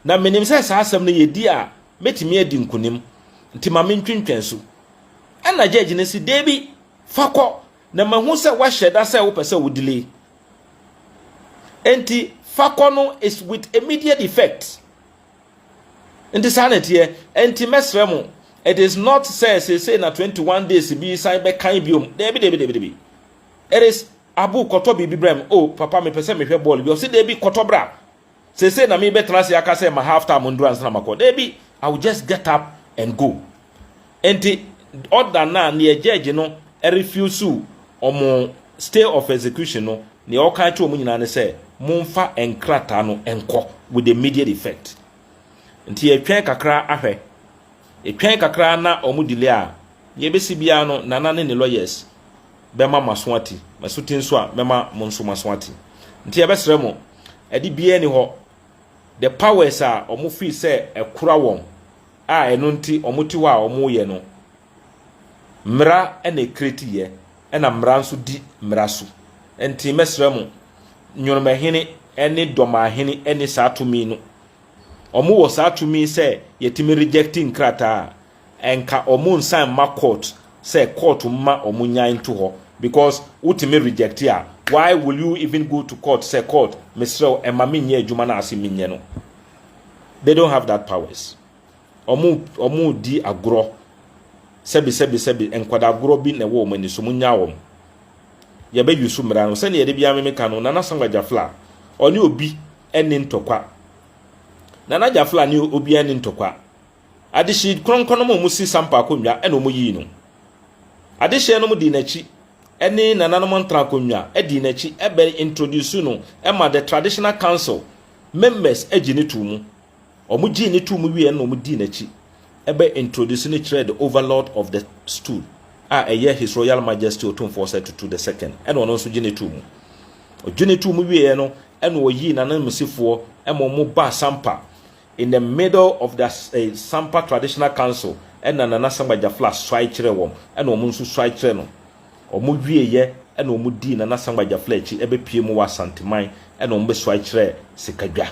na me nim sɛ saa asɛm no yɛ di a mɛtumi adi nkunim nti ma me ntwentwɛn so ɛna judge no se deebi fa kɔ na ma hu sɛ wa hyɛ da sɛ wo pɛ sɛ wo delay nti fa kɔ no is with immediate effect nti saa na ɛteɛ nti mɛsrɛ mo it is not sɛ sese na 21 days bi san bɛkan biom deebi deebi deebi deebi It is Abu kɔtɔ biribi brɛ me oh papa mepɛ sɛ mehwɛ bɔɔl bi ɔse daabi kɔtɔ bra seesei na merebɛtena ase aka sɛ ma half time nduru ansa na makɔ daabi I will just get up and go nti order no a neɛ judge no refuse wɔn stay of execution no neɛ ɔka kyerɛ wɔn nyinaa ne sɛ momfa nkrataa no nkɔ with immediate effect. Nti yɛtwɛn kakra ahwɛ. Yɛtwɛn kakra na ɔmo delay a, nea ebesi biara no Nana ne ne lawyers bɛma moaso ate. Maso te nso a, mɛma mo nso moaso ate. Nti yɛbɛsrɛ mo, ade biara nni hɔ, the powers a ɔmo feel sɛ ɛkora wɔn a ɛno nti ɔmo te hɔ a ɔmo yɛ no, Mmara na ɛkreti yɛ, ɛna mmara nso di mmara so. Nti mɛsrɛ mo, Nworomahene ne Dɔmahene nni saa tumi no. Ɔmo wɔ saa tumi sɛ yɛtumi rejɛkti nkrataa a, ɛnka ɔmo nsan mma kɔɔt sɛ kɔɔt mma ɔmo nyan nto hɔ. Bikɔs wotumi rejɛkti a, wai wil yu ivin go to kɔɔt sɛ kɔɔt mesrɛ wo ɛma me nyɛ adwuma no a se menyɛ no? Dei dont hav dat pawɛs. wɔn redi agorɔ. Sɛbesɛbesɛbe, nkwadaa agorɔ bi na ɛwɔ wɔn ani so, monnyaa wɔn. Yɛbɛ use mmara no. Sɛdeɛ yɛde biara memeka no, Nana Samuel Gyafla, ɔne obi ɛne ntɔkwa. Nana Gyafla ne obi ɛne ntɔkwa. Adehye kronkron nom a wɔsi sampa akonnwa ɛna wɔyii no. Adehyeɛ nom dii n'akyi ɛne nananom ntra akonnwa ɛdii n'akyi ɛbɛ introduce no ɛma the traditional council members ɛgye ne too mu. Wɔgyee no too mu wieeɛ no na wɔdii n'akyi bɛ introduce no kyerɛɛ the overlord of the stool a ɛyɛ His Royal Majesty Otumfoɔ Osei Tutu the second ɛna ɔno nso gye no too mu. Ɔgye no too mu wieeɛ no ɛna ɔyii n'ananmusifoɔ ɛma wɔn baa Sampa in the middle of the eh, Sampa Traditional Council ɛna Nana Sangba Jafla suae kyerɛ wɔn ɛna wɔn nso suae kyerɛ no. Wɔwieeɛ na wɔdii Nana Sangba Gyafla akyi bɛpuee mu wɔ Asanteman na wɔbɛsuae kyerɛɛ Sekadwa.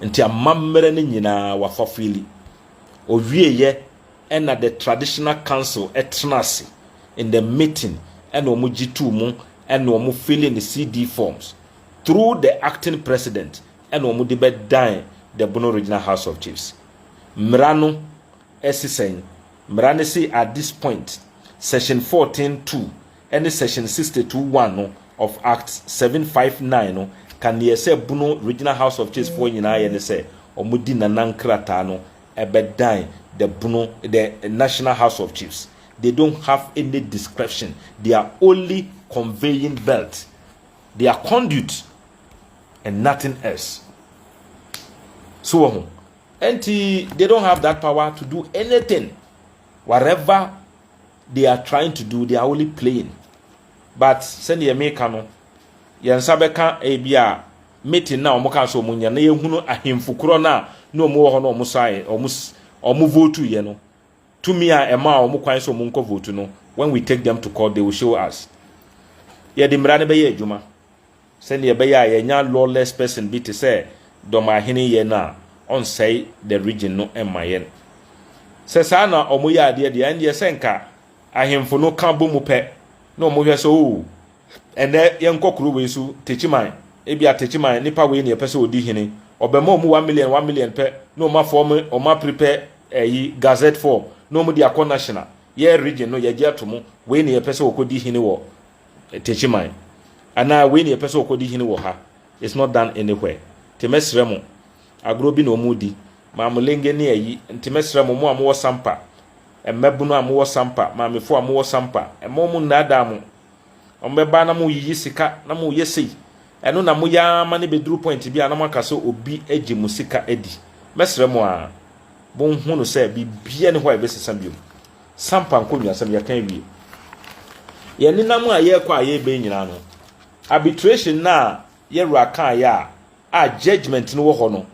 Nti amammerɛ no nyinaa wɔafa Fili. Wɔwieeɛ na the Traditional Council tena ase in the meeting na wɔgye too mu na wɔn filling the CD forms through the acting president na wɔde bɛdan the Bono Regional House of Chiefs. Mmara no si sɛn? Mmara no se at this point, section fourteen two ne section sixty two one no of Act seven five nine no ka nea ɛsɛ Bono Regional House of Chiefs foɔ nyinaa yɛ ne sɛ wɔdi Nana nkrataa no bɛdan the Bono the National House of Chiefs. They don't have any discretion. They are only conveying belt. They are conduit and nothing else. So wɔ ho. Ɛnti they don't have that power to do anything whatever they are trying to do they are only playing but sɛdeɛ meka no yɛn nsa bɛka ebi a meeting na wɔn ka sɛ wɔn nyɛ na yɛhunu ahemfo korɔ no a na wɔn wɔ hɔ na wɔn sae wɔn wɔn vote yɛ no Tumi a ɛmaa wɔn kwan sɛ wɔnkɔ vote no, when we take them to court, they will show us. Yɛde mmara no bɛyɛ adwuma sɛdeɛ ɛbɛyɛ a yɛanya lawless person bi te sɛ Dɔmahene yɛ no a, ɔnsɛe the region no mma yɛn. Sɛ saa na wɔyɛ adeɛ deɛ, ɛndeɛ sɛ nka ahemfo no ka bɔ mu pɛ na wɔhwɛ sɛ oo, Ɛnnɛ yɛnkɔ kuro wei so, Techiman, ebia Techiman nipa wei na yɛpɛ sɛ ɔdi hene, ɔbɛma wɔn mu one million one million pɛ na wɔn afɔɔme, wɔn aprepɛ ɛyi, gazette form na wɔn de akɔ national, yɛ region no yɛgye ato mu, wei na yɛpɛ sɛ ɔkɔdi hene wɔ Techiman, anaa wei na yɛpɛ sɛ ɔkɔdi hene wɔ ha, it's not done anywhere. Nti mɛsrɛ mo, agorɔ bi na wɔn redi, Maamulenge ne ɛyi, nti mɛsrɛ mo, mo a mowɔ Sampa, mmabunu a mowɔ Sampa, maamefoɔ a mowɔ Sampa, mma wɔn nnaadaa mo, Ɔmo bɛba na mo yiyi sika na mo yɛ sei ɛno na mo yɛ ara ma no bɛduru point bi a na mo aka sɛ obi agye mo sika adi. Mɛsrɛ mo ara mo nhu no sɛ biribiara nni hɔ a ɛbɛsesa biom. Sampa nkonnwasɛm yɛka awie. Yɛn nenam a yɛrekɔ a yɛreba yi nyinaa no arbitration no a yɛ wura kaeɛ a a judgement no wɔ hɔ no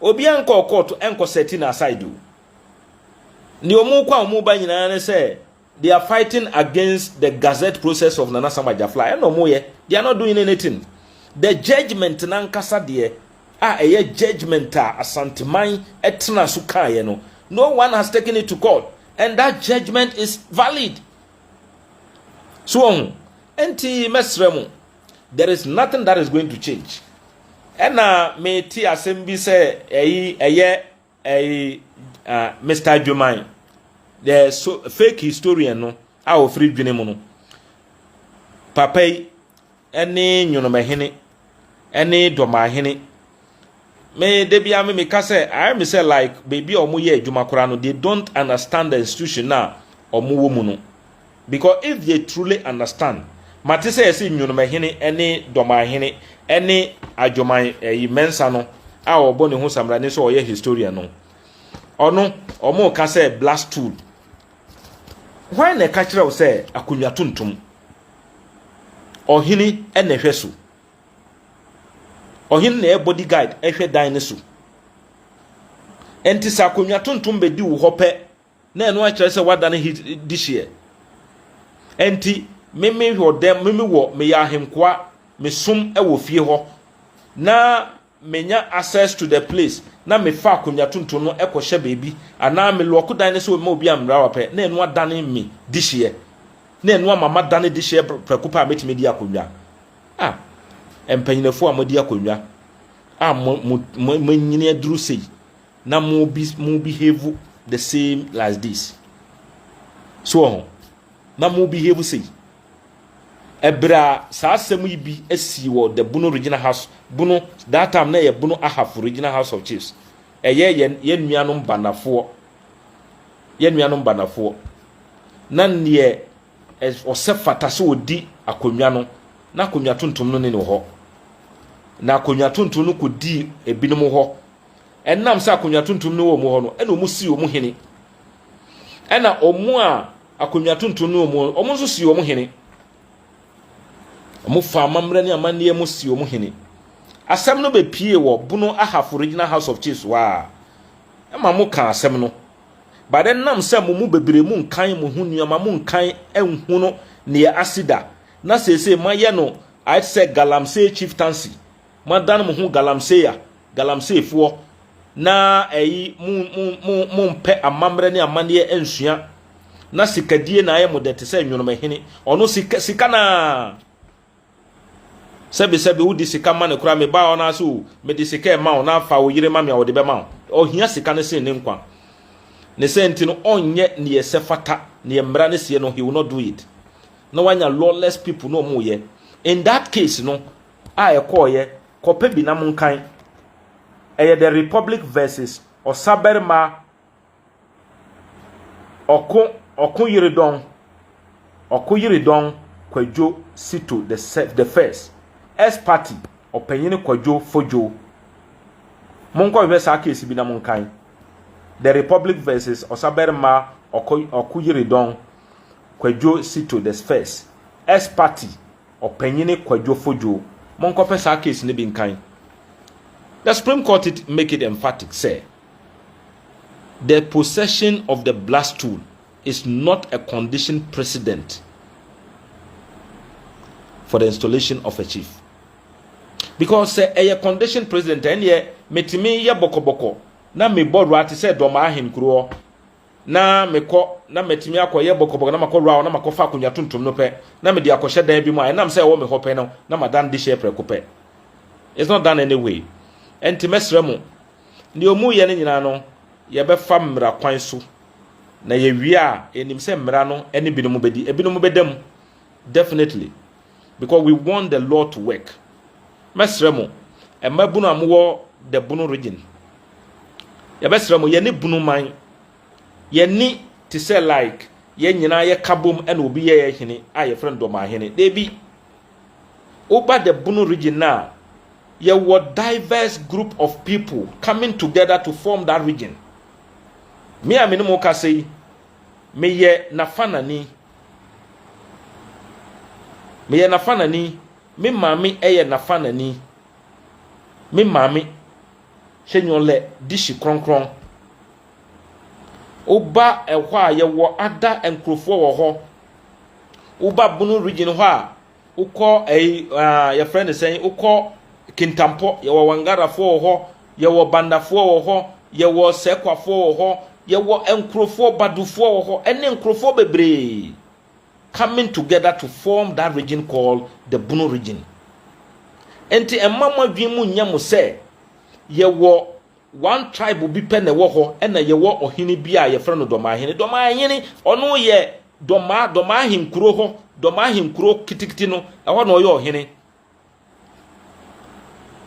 obiara nkɔɔ kɔɔto ɛnkɔ sɛti no aside o. Deɛ ɔmo kɔ a ɔmo ba nyinaa ne sɛ They are fighting against the gazette process of Nana Sam Agyafla. Ɛna ɔmo yɛ. They are not doing anything. The judgement n'ankasa deɛ a ɛyɛ judgement a Asanteman ɛtena so kaeɛ no, no one has taken it to court and that judgement is valid. So wɔn ho. Ɛnti mɛsrɛ mo, there is nothing that is going to change. Ɛna mete asɛm bi sɛ ɛyi ɛyɛ Ɛyi uh, Mr. Dwoman, the so, fake historian no a wɔfiri dwene mu no, papa yi ne nwonomahene ne dɔmahene me da bia me meka sɛ ayɛ me sɛ like baabi a wɔyɛ adwuma koraa no they don't understand the institution a wɔwɔ mu no Because if they truly understand, mate sɛ yɛse Nwonomahene ne Dɔmanhene ne Adwoman ɛyi Mensah no a ɔbɔ ne ho samrani sɛ ɔyɛ historian no. Ɔno, ɔmo ka sɛ black stool. Hwan na ɛka kyerɛ wo sɛ akonnwa tuntum? Ɔhene na ɛhwɛ so. Ɔhene na ɛyɛ body guide ɛhwɛ dan no so. Ɛnti sɛ akonnwa tuntum bɛdi wo hɔ pɛ Na ɛno akyerɛ sɛ woadane he dehyeɛ. Ɛnti me me wɔ dɛm, me me wɔ, meyɛ ahenkoa, me som wɔ fie hɔ, na menya access to the place, na me fa akonwa tuntum no kɔ hyɛ baabi, anaa me lɔɔko dan no sɛ ɔmma obi ammra wa pɛ, na ɛno adane me dehyeɛ. Na ɛno ama madane dehyeɛ prɛko pɛ a mɛtumi adi akonwa. Ah, mpanyinafoɔ a moadi akonwa a mo, mo, mo, mo anyini aduru sei, na mo bi mo behave the same like this so wɔ ho na mo behave sei ɛberɛ a saa asɛm yi bi asi wɔ the bono regional house bono that time na ɛyɛ bono ahafo regional house of chiefs ɛyɛ yɛn yɛn nuanom banafoɔ yɛn nuanom banafoɔ na neɛ ɔsɛ fata sɛ ɔdi akonnwa no na akonnwa tuntum no ne ne hɔ na akonnwa tuntum no kɔdii ebinom hɔ Ɛnam sɛ akonnwa tuntum no wɔ wɔn hɔ no, ɛna wɔn sii wɔn hene. Ɛna wɔn a akonnwa tuntum no wɔn, wɔn nso sii wɔn hene. Wɔn fa amammerɛ ne amanneɛ mu sii wɔn hene. Asɛm no bɛpie wɔ Bono Ahafo Regional House of Chiefs hɔ a, ɛma mo ka asɛm no. But ɛnam sɛ mo mu bebree mu nkan mo ho nneɛma, mo nkan nhu no nea asi da, na seesei moayɛ no ayɛ sɛ galamsey chieftaincy. Moadan mo ho galamsey a, galamseyfoɔ, na ɛyi, mo, mo, mo, mompɛ amammerɛ ne amanneɛ ansua, na sikadie na ayɛ mo dɛ te sɛ nwonomahini. Ɔno, sika, sika no ara. Sɛbesɛbe wode sika ma no koraa, me ba, ɔno ara sɛ, o, mede sika rema wo, na fa wo yere ma me a, ɔde bɛma wo. Ɔhia sika no sen ne nkwa. Ne saa nti no, ɔnyɛ nea ɛsɛ fata, nea mmara no seɛ no, he will not do it. Na wanya lawless people na wɔyɛ. In that case no, a ɛkɔeɛ kɔpɛ bi na monkan. Ɛyɛ The Republic vs Ɔsabarima Ɔko Ɔkoyeredɔn Ɔkoyeredɔn Kwadwo Sito the se the First, S Party Ɔpanyin Kwadwo Fodjo. Monkɔhwehwɛ saa case bi na monkan. The Republic vs Ɔsabarima Ɔko Ɔkoyeredɔn Kwadwo Sito the First, S Party. Ɔpanyini Kwadwo Fodwo, monkɔpɛ saa case no bi nkan. The Supreme Court it make it emphatic sɛ the possession of the blood stool is not a condition precedent for the installation of a chief. Because sɛ ɛyɛ condition precedent ɛnneɛ metumi yɛ bɔkɔbɔkɔ na mebɔ ra te sɛ dɔm ahenkuroɔ na mekɔ na matumi akɔyɛ bɔkɔbɔkɔ na makɔ round na makɔfa akonnwa tuntum no pɛ na mede akɔhyɛ dan bi mu a ɛnam sɛ ɛwɔ me hɔ pɛ no na madan de hyɛ prɛko pɛ it's not done anyway ɛnti mɛsrɛ mu ne ɔmu yɛ no nyinaa no yɛbɛfa mmara kwan so na yɛwie a ɛnim sɛ mmara no ɛne binom bɛdi ebinom bɛda mu definitely because we want the law to work mɛsrɛ mo mmabunu a mowɔ the bunu region yɛbɛsrɛ mo yɛne bunu man yɛni te sɛ like yɛn nyinaa yɛka bom ɛna obi yɛ yɛ hene a yɛfrɛ no dɔmaahene deebi woba the bunu region no a yɛwɔ diverse group of people coming together to form that region me a me ne mo kasa yi meyɛ nafanani Meyɛ n'afanani. Me maame yɛ n'afanani. Me maame hyɛ nyɔlɛ dihyi krɔnkrɔn. Woba ɛhɔ a, yɛwɔ ada nkurɔfoɔ wɔ hɔ. Woba Bono Region hɔ a, Wokɔ ɛyi ah, yɛfrɛ no sɛn wokɔ kintampɔ yɛwɔ wangarafoɔ wɔ hɔ yɛwɔ bandafoɔ wɔ hɔ yɛwɔ sɛkwafoɔ wɔ hɔ yɛwɔ nkurɔfoɔ badufoɔ wɔ hɔ ɛne nkurɔfoɔ bebree coming together to form that region called the bunu region nti ɛma mo adwene mu nyɛ mo sɛ yɛwɔ One tribe bi pɛ na ɛwɔ hɔ ɛna yɛwɔ ɔhene bi a yɛfrɛ no Dɔmaahene. Dɔmaahene ɔno yɛ Dɔmaa, Dɔmaahenkuro hɔ, Dɔmaahenkuro kitikiti no, ɛhɔ na ɔyɛ ɔhene.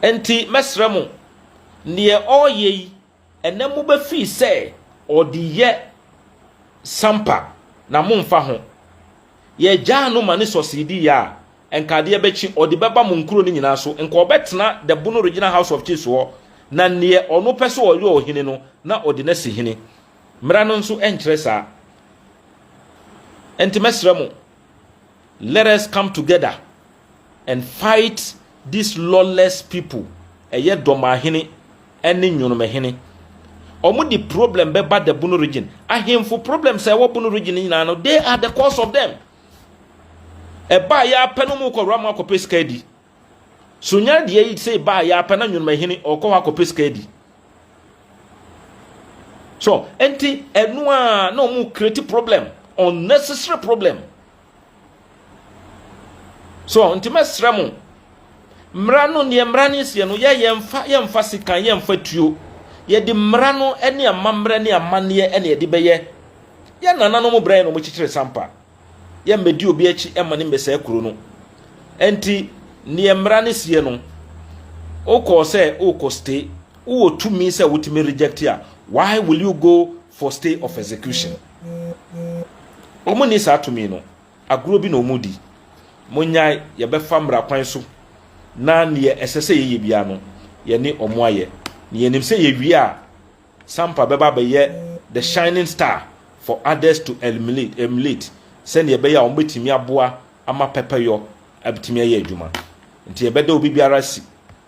Ɛnti mɛsrɛ mo, neɛ ɔɔyɛ yi, ɛnɛ mo bɛ fii sɛ ɔde yɛ sampa na mo nfa ho. Yɛ gyaa no ma ne sɔsii di yɛ a, Nka adeɛ bɛkye ɔde bɛba mo nkuro no nyinaa so, nka ɔbɛtena the Bono Regional House of Chiefs hɔ, na neɛ ɔno pɛ sɛ ɔyɛ ɔhene no, na ɔde no asi hene. Mmara no nso nkyerɛ saa. Ɛnti mɛsrɛ mo, let us come together and fight these lawless people, ɛyɛ Dɔmahene ɛne Nwonomahene. Ɔmo de problem bɛba the Bono Region. Ahenfo problems a ɛwɔ Bono Region no nyinaa no, they are the cause of them. Ɛbaa yɛ apɛ no mu kɔ Rama akɔpɛ sika adi. So nya deɛ yi sɛ ɛbaa yɛ apɛ na nwonimahene ɔkɔ hɔ akɔpɛ sika adi. So enti ɛno a na wɔn create problem unnecessary problem. So nti mɛsrɛ mo mmara no neɛ mmara no seɛ no yɛ yɛmfa yɛmfa sekan yɛmfa tuo yɛde mmara no ne amammerɛ ne amanneɛ ne yɛde bɛyɛ Yɛn nananom brɛɛ na wɔkyekyeree sampa. Yɛmmɛdi obi akyi mma no mmɛsɛe kuro no. Ɛnti, neɛ mmara no seɛ no, wokɔɔ sɛ wokɔ stay, wowɔ tumi sɛ wotumi reject a, why will you go for stay of execution? Wɔn nni saa tumi no. Agorɔ bi na wɔn redi. Monnyae, yɛbɛfa mmara kwan so na neɛ ɛsɛ sɛ yɛyɛ biara no, yɛne wɔn ayɛ. Na yɛnim sɛ yɛwie a, Sampa bɛba abɛyɛ the shining star for others to emulate sɛnea ɛbɛyɛ a wɔbɛtumi aboa ama pɛpɛyɔ atumi ayɛ adwuma. Nti yɛbɛda obi biara asi.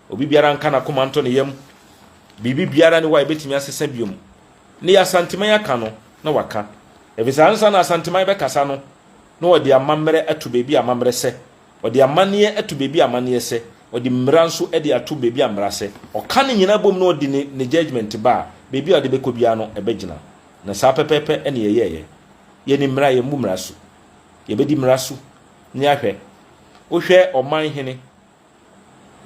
Obi biara nka n'akoma nto ne yam. Biribi biara ne hɔ a yɛbɛtumi asesa biom. Nea Asanteman aka no, na waka. Efisɛ ansa na Asanteman bɛkasa no, na wɔde amammerɛ ato baabi a amammerɛ sɛ. Ɔde amanneɛ to baabi a amanneɛ sɛ, ɔde mmara nso de ato baabi a mmara sɛ. Ɔka ne nyinaa bom na ɔde ne ne judgement ba a, baabi a ɔde bɛkɔ biara no, ɛbɛgyina. Na saa pɛpɛɛpɛ na yɛyɛeɛ. Yɛnim mmara, yɛmmu mmara so. Yɛbɛdi mmara so na yɛahwɛ. Wohwɛ ɔman hene,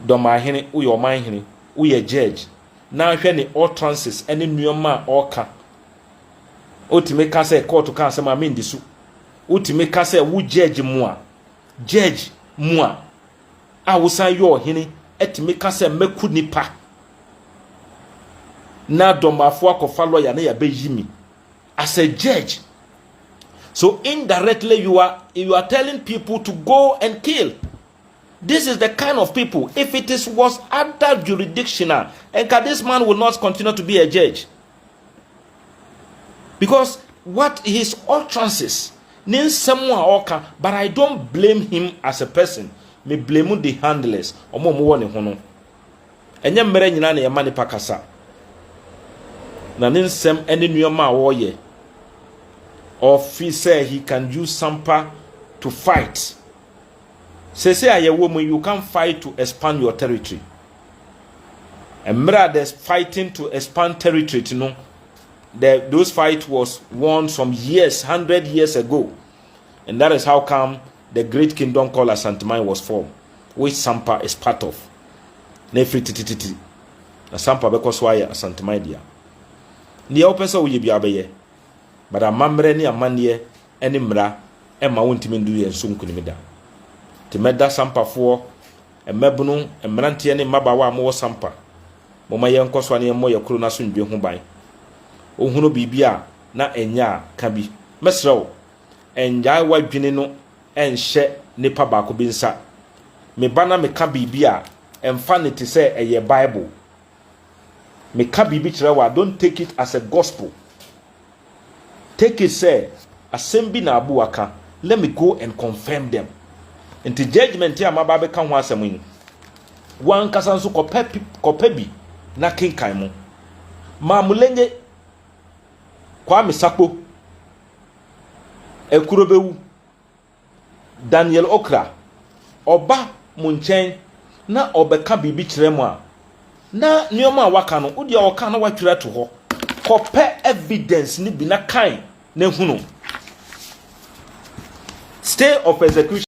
Dɔmaa hene, woyɛ ɔman hene, woyɛ judge, na hwɛ ne utterances ne nneɛma a ɔka. Wotumi ka sɛ kɔɔto ka asɛm a mendi so. Wotumi ka sɛ wo judge mo a, Judge mua a wosan yɛ ɔhene atumi ka sɛ mɛku nipa na dɔmafo akɔfa lawyer na yɛabɛyi me as a judge so indirectly you are you are telling people to go and kill this is the kind of people if it is was other jurisdiction a nka this man will not continue to be a judge because what his utterances ne nsɛm a ɔka but i don't blame him as a person me blame the handlers ɔmo ɔmo wɔ ne ho no ɛnyɛ mmerɛ nyinaa na yɛma nipa kasa na ne nsɛm ne nneɛma a wɔyɛ or feel sɛ he can use sampa to fight sese a yɛwɔ mu you can fight to expand your territory Mmerɛ a the fighting to expand territory no, the those fight was won some years, hundred years ago. And that is how come the great kingdom called Asanteman was formed, which Sampa is part of. Na ɛfiri titititi. Na Sampa bɛkɔ so ayɛ Asanteman dea. Neɛ wopɛ sɛ woyɛ biara bɛyɛ. But amammerɛ ne amanneɛ ne mmara ɛma wontumi ndu yɛn so nkunim da. Nti mɛda Sampafoɔ Mmabunu, mmeranteɛ ne mmabaawa a mowɔ Sampa, momma yɛnkɔ so a na yɛmmɔ yɛn kuro no asomdwoeɛ ho ban. Wohunu biribi a na ɛnyɛ a, ka bi. Mɛsrɛ wo, nnyae w'adwene no nhyɛ nipa baako bi nsa. Me ba na meka biribi a, mfa no te sɛ ɛyɛ Bible. Meka biribi kyerɛ wo a, don't take it as a gospel. Take it sɛ asɛm bi na Abu aka, let me go and confirm them. Nti judgement a maba abɛka ho asɛm yi, wo ankasa nso kɔpɛ kɔpɛ bi na kenkan mu. Mamulenye, Kwame Sakpo, Ekurobewu. Daniel Okra, ɔba mo nkyɛn na ɔbɛka biribi kyerɛ mo a, na nneɛma a waka no, wo deɛ ɔka na watwerɛ ato hɔ. Kɔpɛ evidence no bi na kan na hunu. Stay of execution.